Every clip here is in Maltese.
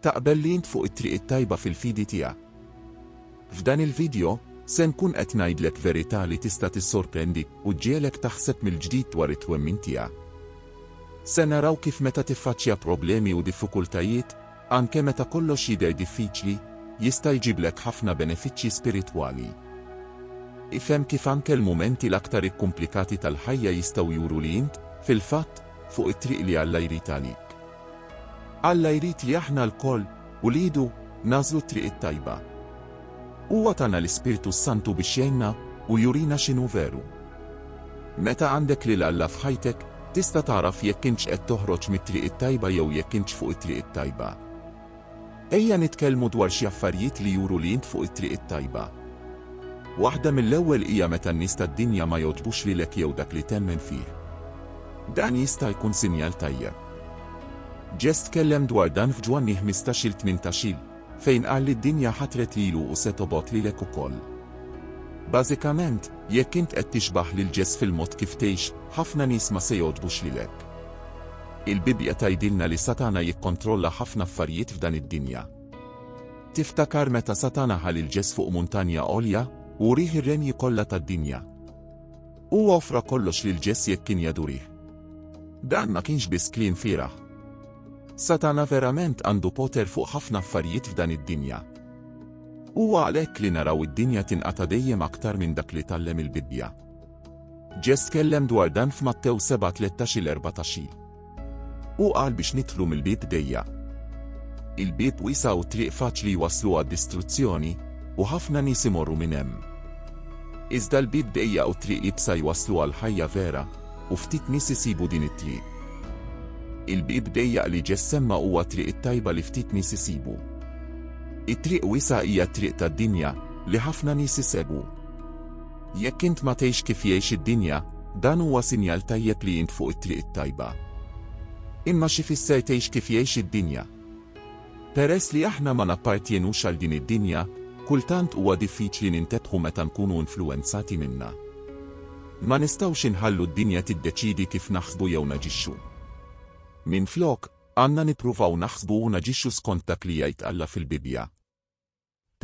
Taqbel li int fuq it-triq it-tajba fil-fidi tiegħek? F'dan il-vidjo, se nkun qed ngħidlek verità li tista' tissorprendik u ġġiegħlek taħseb mill-ġdid dwar it-twemmin tiegħek. Se naraw kif meta tiffaċċja problemi u diffikultajiet, anke meta kollox jidher diffiċli, jista' jġiblek ħafna benefiċċji spiritwali. Ifhem kif anke l-mumenti l-aktar ikkumplikati tal-ħajja jistgħu juru li int, fil-fatt, fuq it-triq li Alla jrid għalik. Alla jrid li aħna lkoll, uliedu, nagħżlu t-triq it-tajba. Huwa tana l-Ispirtu s-Santu biex jgħinna u jurina x'inhu veru. Meta għandek lil Alla f'ħajtek, tista' tagħraf jekk intx qed toħroġ mit-triq it-tajba jew jekk intx fuq it-triq it-tajba. Ejja nitkellmu dwar xi affarijiet li juru li int fuq it-triq it-tajba. Waħda mill-ewwel hija meta n-nies tad-dinja ma jogħġbux lilek jew dak li temmen fih. Dan jista' jkun sinjal tajjeb. Ġeż tkellem dwar dan f'Ġwanni ħmistax-il tmintax-il, fejn qal li d-dinja ħatret lilu u se tobgħod lilek ukoll. Bażikament, jekk int qed tixbah lil Ġeż fil-mod kif tgħix, ħafna nies ma se jogħġbux lilek. Il-Bibbja tgħidilna li Satana jikkontrolla ħafna affarijiet f'dan id-dinja. Tiftakar meta Satana ħa lil Ġes fuq muntanja għolja u wrih ir-renji kollha tad-dinja? Huwa offra kollox lil Ġes jekk kien jadurih. Dan ma kienx biss kliem fieragħ. Satana verament għandu poter fuq ħafna affarijiet f'dan id-dinja. Huwa għalhekk li naraw id-dinja tinqata' dejjem aktar minn dak li tgħallem il-Bibbja. Ġess tkellem dwar dan f'Mattew 7:13 il 14 il. Hu qal biex nidħlu mill-bieb dejja. Il-bieb wiesa' u triq faċli jwasslu għad-distruzzjoni, u ħafna nies imorru minn hemm. Iżda l-bieb dejja u triq ibsa jwasslu għal ħajja vera, u ftit nies isibu din it-triq. Il-bieb dejjaq li ġess semma huwa triq it-tajba li ftit nies isibu. It-triq wiesa' hija t-triq tad-dinja li ħafna nies isegwu. Jekk int ma tgħix kif jgħix id-dinja, dan huwa sinjal tajjeb li int fuq it-triq it-tajba. Imma x'ifisser tgħix kif jgħix id-dinja? Peress li aħna ma nappartjenux għal din id-dinja, kultant huwa diffiċli nintebħu meta nkunu influwenzati minnha. Ma nistgħux inħallu d-dinja tiddeċiedi kif naħsbu jew naġixxu. Minflok, għandna nippruvaw naħsbu u naġixxu skont dak li jgħid Alla fil-Bibbja.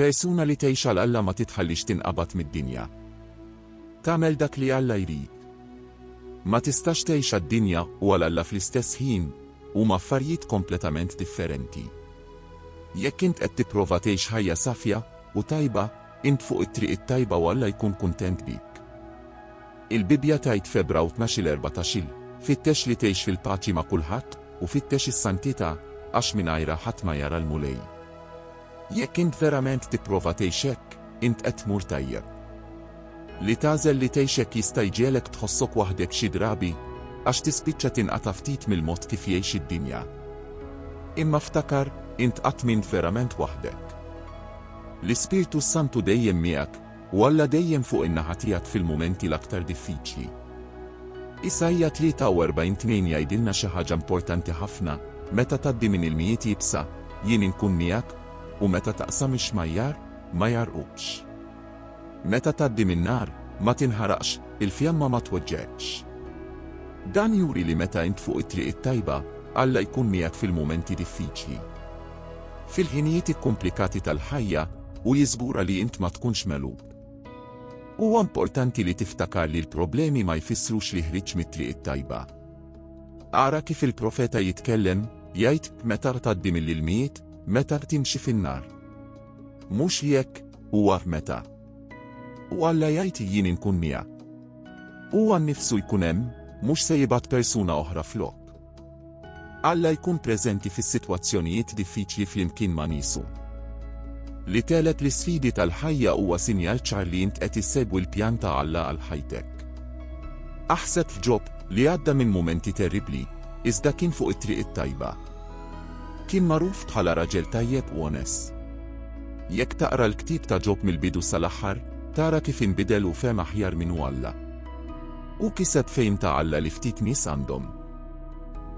Persuna li tgħix għal Alla ma titħallix tinqabad mid-dinja. Tagħmel dak li Alla jrid. Ma tistax tgħix għad-dinja u għal Alla fl-istess ħin, huma affarijiet kompletament differenti. Jekk int qed tipprova tgħix ħajja safja u tajba, int fuq it-triq it-tajba u Alla jkun kuntent bik. Il-Bibbja tgħid f'Ebrew tnax-il erbatax-il, Fittex li tgħix fil-paċi ma' kulħadd u fittex is-santità, għax mingħajrha ħadd ma jara l-Mulej. Jekk int verament tipprova tgħix hekk, int qed tmur tajjeb. Li tagħżel li tgħix hekk jista' jġegħlek tħossok waħdek xi drabi, għax tispiċċa tinqata' ftit mill-mod kif jgħix id-dinja. Imma ftakar, int qatt m'int verament waħdek. L-Ispirtu s-Santu dejjem miegħek, U Alla dejjem fuq in-naħa tiegħek fil-mumenti l-aktar diffiċli. Isaija 43 2 jgħidilna xi ħaġa importanti ħafna, Meta tgħaddi minn ilmijiet iebsa, jien inkun miegħek, u meta taqsam ix-xmajjar, ma jgħarrqukx. Meta tgħaddi min-nar, ma tinħaraqx, il-fjamma ma tweġġgħekx. Dan juri li meta int fuq it-triq it-tajba, Alla jkun miegħek fil-mumenti diffiċli. fil-ħinijiet ikkumplikati tal-ħajja u jiżgura li int ma tkunx megħlub. Huwa importanti li tiftakar li l-problemi ma jfissrux li ħriġt mit-triq it-tajba. Ara kif il-profeta jitkellem, jgħid, meta tgħaddi mill-ilmijiet, meta timxi fin-nar. Mhux li hekk, huwa meta. U Alla jgħid jien inkun miegħek. Huwa nnifsu jkun hemm, mhux se jibgħat persuna oħra flok. Alla jkun preżenti fis-sitwazzjonijiet diffiċli flimkien ma' niesu. Li tegħleb l-isfidi tal-ħajja huwa sinjal ċar li int qed issegwi l-pjan ta' Alla għal ħajtek. Aħseb f'Ġob, li għadda minn mumenti terribbli, iżda kien fuq it-triq it-tajba. Kien magħruf bħala raġel tajjeb u onest. Jekk taqra l-ktieb ta' Ġob mill-bidu sal-aħħar, tara kif inbidel u fehem aħjar min hu Alla. Hu kiseb fehim ta' Alla li ftit nies għandhom.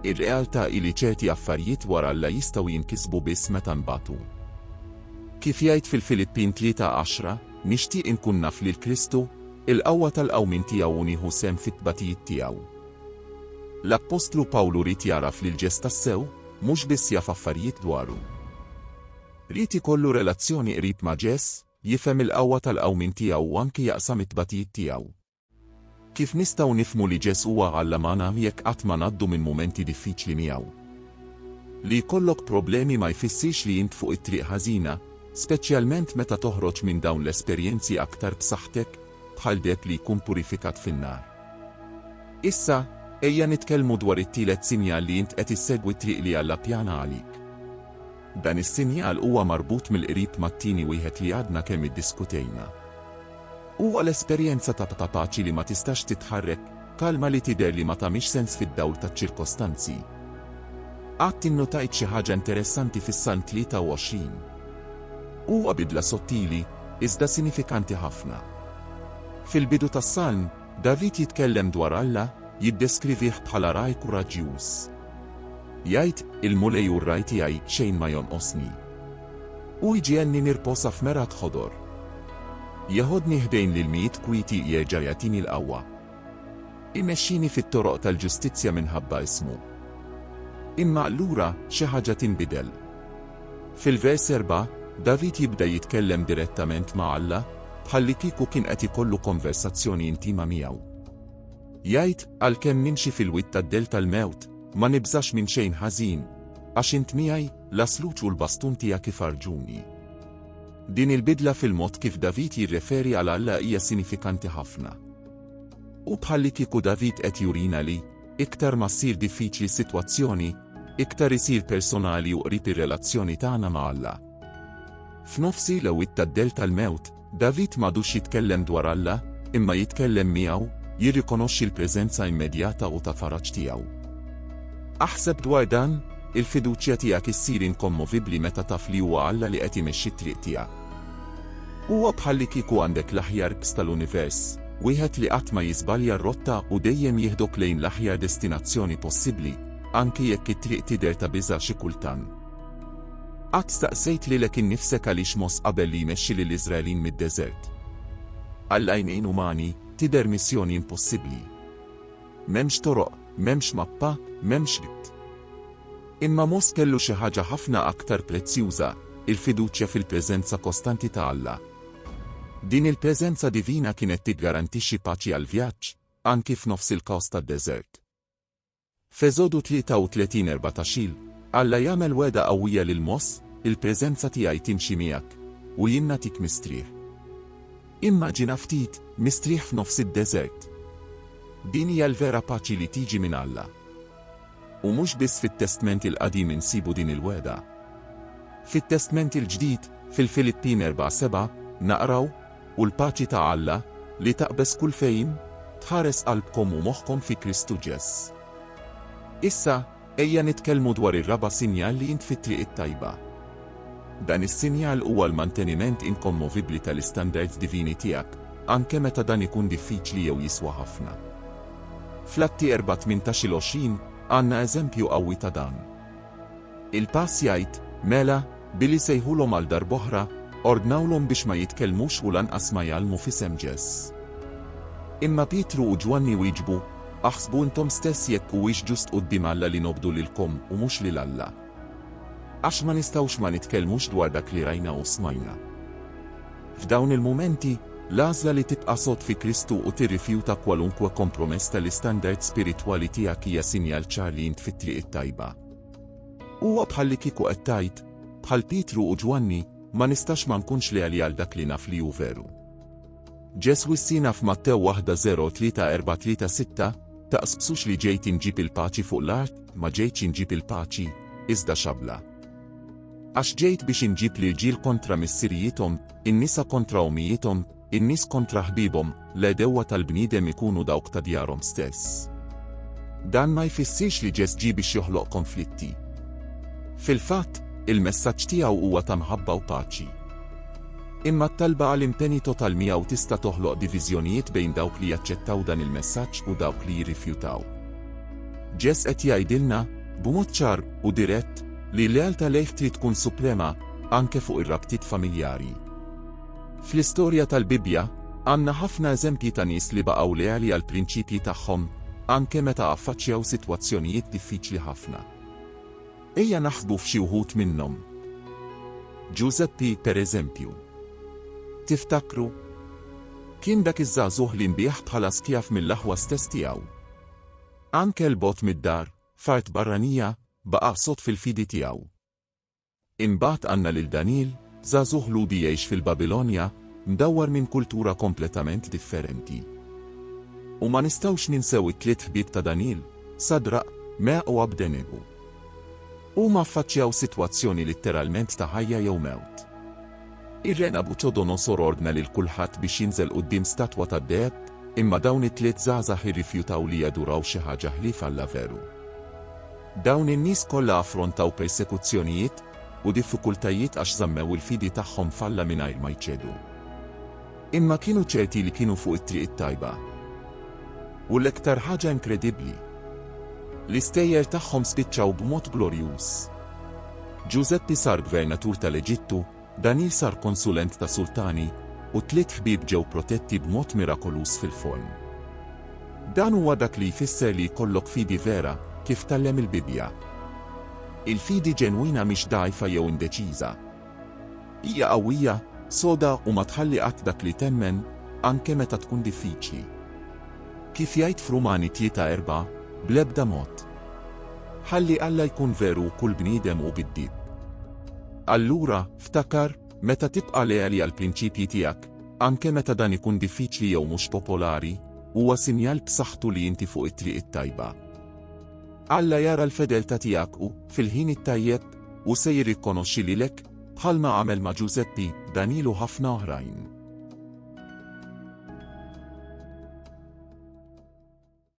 Ir-realtà hi li ċerti affarijiet dwar Alla jistgħu jinkisbu biss meta nbatu. Kif jgħid fil-Filippin 3:10, Nixtieq inkun naf lil Kristu, il-qawwa tal-qawmien tiegħu u nieħu sehem fit-tbatijiet tiegħu. L-appostlu Pawlu ried jagħraf lil Ġeż tassew, mhux biss jaf affarijiet dwaru. Ried ikollu relazzjoni qrib ma' Ġeż, jifhem il-qawwa tal-qawmien tiegħu u anki jaqsam it-tbatijiet tiegħu. Kif nistgħu nifhmu li Ġesù huwa Alla magħna jekk qatt ma ngħaddu minn mumenti diffiċli miegħu? Li jkollok problemi ma jfissirx li int fuq it-triq ħażina, speċjalment meta toħroġ minn dawn l-esperjenzi aktar b'saħħtek, bħal deheb li jkun purifikat fin-nar. Issa, ejja nitkellmu dwar it-tielet sinjal li int qed issegwi t-triq li Alla ppjana għalik. Dan is-sinjal huwa marbut mill-qrib mat-tieni wieħed li għadna kemm iddiskutejna. Huwa l-esperjenza ta' paċi li ma tistax titħarrek, kalma li tidher li ma tagħmilx sens fid-dawl taċ-ċirkostanzi. Qatt innotajt xi ħaġa interessanti fis-Salm 23? Huwa bidla sottili, iżda sinifikanti ħafna. Fil-bidu tas-Salm, David jitkellem dwar Alla, jiddeskrivih bħala ragħaj kuraġġjuż. Jgħid, Il-Mulej hu r-ragħaj tiegħi, xejn ma jonqosni. U jġegħelni nirposa f'mergħat ħodor. Jeħodni ħdejn l-ilmijiet kwieti jerġa' jagħtini l-qawwa. Imexxini fit-toroq tal-ġustizzja minħabba ismu. Imma allura xi ħaġa tinbidel. Fil-vers erba', David jibda jitkellem direttament ma' Alla, bħallikieku kien qed ikollu konversazzjoni intima miegħu. Jgħid, Għalkemm nimxi fil-wied tad-dell tal-mewt, ma nibżax minn xejn ħażin, għax int miegħi, L-għasluġ u l-bastun tiegħek ifarrġuni. Din il-bidla fil-mod kif David jirreferi għal Alla hija sinifikanti ħafna. Hu bħallikieku David qed jurina li, iktar ma ssir diffiċli sitwazzjoni, iktar isir personali u qrib ir-relazzjoni tagħna ma' Alla. F'nofs il-għawwiet tad-dell tal-mewt, David m'għadux jitkellem dwar Alla, imma jitkellem miegħu, jirrikonoxxi l-preżenza immedjata u ta' faraġ tiegħu. Aħseb dwar dan, Il-fiduċja tiegħek issir inkommovibbli meta taf li huwa Alla li qed imexxi t-triq tiegħek. Huwa bħallikieku għandek l-aħjar Ks tal-univers, wieħed li qatt ma jiżbalja r-rotta u dejjem jieħdok lejn l-aħjar destinazzjoni possibbli, anki jekk it-triq tidher ta' biża' xi kultant. Qatt staqsejt lilek innifsek għaliex Mos qabel li jmexxi lill-Iżraelin mid-deżert? Għal għajnejn umani, tidher missjoni impossibbli. M'hemmx toroq, m'hemmx mappa, m'hemmx id. Imma Mos kellu xi ħaġa ħafna aktar prezzjuża, il-fiduċja fil-preżenza kostanti ta' Alla. Din il-preżenza divina kienet tiggarantixxi paċi għall-vjaġġ, anki f'nofs il-kaos tad-deżert. F'Eżodu 33, 14, Alla jagħmel wegħda qawwija lil Mos, Il-preżenza tiegħi timxi miegħek, u jien nagħtik mistrieħ. Immaġina ftit, mistrieħ f'nofs id-deżert! Din hija l-vera paċi li tiġi minn Alla. U mhux biss fit-Testment il-Qadim insibu din il-wegħda. Fit-Testment il-Ġdid, fil-Filippin 4, 7, naqraw, U l-paċi ta' Alla, li taqbeż kull fehim, tħares qalbkom u moħħkom fi Kristu Ġeż. Issa, ejja nitkellmu dwar ir-raba' sinjal li int fit-triq it-tajba. Dan is-sinjal huwa l-manteniment inkommovibbli tal-istandards divini tiegħek, anke meta dan ikun diffiċli jew jiswa ħafna. Fl-Atti 4, 18-20, għandna eżempju qawwi ta' dan. Il-pass jgħid, Mela, billi sejħulhom għal darb'oħra, ordnawlhom biex ma jitkellmux u lanqas ma jgħallmu f'isem Ġes. Imma Pietru u Ġwanni wieġbu, Aħsbu intom stess jekk huwiex ġust quddiem Alla li nobdu lilkom u mhux lil Alla. Għax ma nistgħux ma nitkellmux dwar dak li rajna u smajna. F'dawn il-mumenti, l-għażla li tibqa' sod fi Kristu u tirrifjuta kwalunkwe kompromess tal-istandard spiritwali tiegħek hija sinjal ċar li int fit-triq it-tajba. Huwa bħallikieku qed tgħid, bħal Pietru u Ġwanni, Ma nistax ma nkunx leali għal dak li naf li hu veru. Ġesù issina f'Mattew 1:03-4-3-6, Taqsbsux li ġejt inġib il-paċi fuq l-art, ma ġejtx inġib il-paċi, iżda xabla. Għax ġejt biex inġib l-irġiel kontra missirijiethom, in-nisa kontra ommijiethom, in-nies kontra ħbiebhom, l-għedewwa tal-bniedem ikunu dawk ta' djarhom stess. Dan ma jfissirx li Ġess ġie biex joħloq konflitti. Fil-fatt, il-messaġġ tiegħu huwa ta' mħabba u paċi. Imma t-talba għal impenji total miegħu tista' toħloq diviżjonijiet bejn dawk li jaċċettaw dan il-messaġġ u dawk li jirrifjutaw. Ġess qed jgħidilna, b'mod ċar u dirett, li l-lealtà lejh trid tkun suprema, anke fuq ir-rabtiet familjari. Fl-istorja tal-Bibbja, għandna ħafna eżempji ta' nies li baqgħu leali għall-prinċipji tagħhom, anke meta affaċċjaw sitwazzjonijiet diffiċli ħafna. Ejja naħsbu f'xi wħud minnhom. Ġużeppi, pereżempju. Tiftakru? Kien dak iż-żagħżugħ li nbiegħ bħala skjav mill-aħwa stess tiegħu. Anke 'l bogħod mid-dar, F'art barranija, baqa' sod fil-fidi tiegħu. Imbagħad għandna lil Daniel, żagħżugħ Lhudi jgħix fil-Babilonja, mdawwar minn kultura kompletament differenti. U ma nistgħux ninsew it-tliet ħbieb ta' Daniel, Sadraq, Meaq u Abdenego. Huma ffaċċjaw sitwazzjoni litteralment ta' ħajja jew mewt. Ir-re Nabuċodonosor ordna lil kulħadd biex jinżel quddiem statwa tad-deheb, imma dawn it-tliet żgħażagħ irrifjutaw li jaduraw xi ħaġa ħlief Alla veru. Dawn in-nies kollha affrontaw persekuzzjonijiet u diffikultajiet għax żammew il-fidi tagħhom f'Alla mingħajr ma jċedu. Imma kienu ċerti li kienu fuq it-triq it-tajba. U l-iktar ħaġa inkredibbli, l-istejjer tagħhom spiċċaw b'mod glorjuż. Ġużeppi sar gvernatur tal-Eġittu, Daniel sar konsulent ta' sultani, u t-tliet ħbieb ġew protetti b'mod mirakoluż fil-forn. Dan huwa dak li jfisser li jkollok fidi vera, kif tgħallem il-Bibbja. Il-fidi ġenwina mhix dgħajfa jew indeċiża, Hija qawwija, soda u ma tħalli qatt dak li temmen, anke meta tkun diffiċli. Kif jgħid f'Rumani tlieta erbgħa, bl-ebda mod. Ħalli Alla jkun veru u kull bniedem hu giddib. Allura, ftakar, meta tibqa' leali għall-prinċipji tiegħek, anke meta dan ikun diffiċli jew mhux popolari, huwa sinjal b'saħħtu li inti fuq it-triq it-tajba. Alla jara l-fedeltà tiegħek u, fil-ħin it-tajjeb, u se jirrikonoxxi lilek, bħalma għamel ma' Ġużeppi, Daniel u ħafna oħrajn.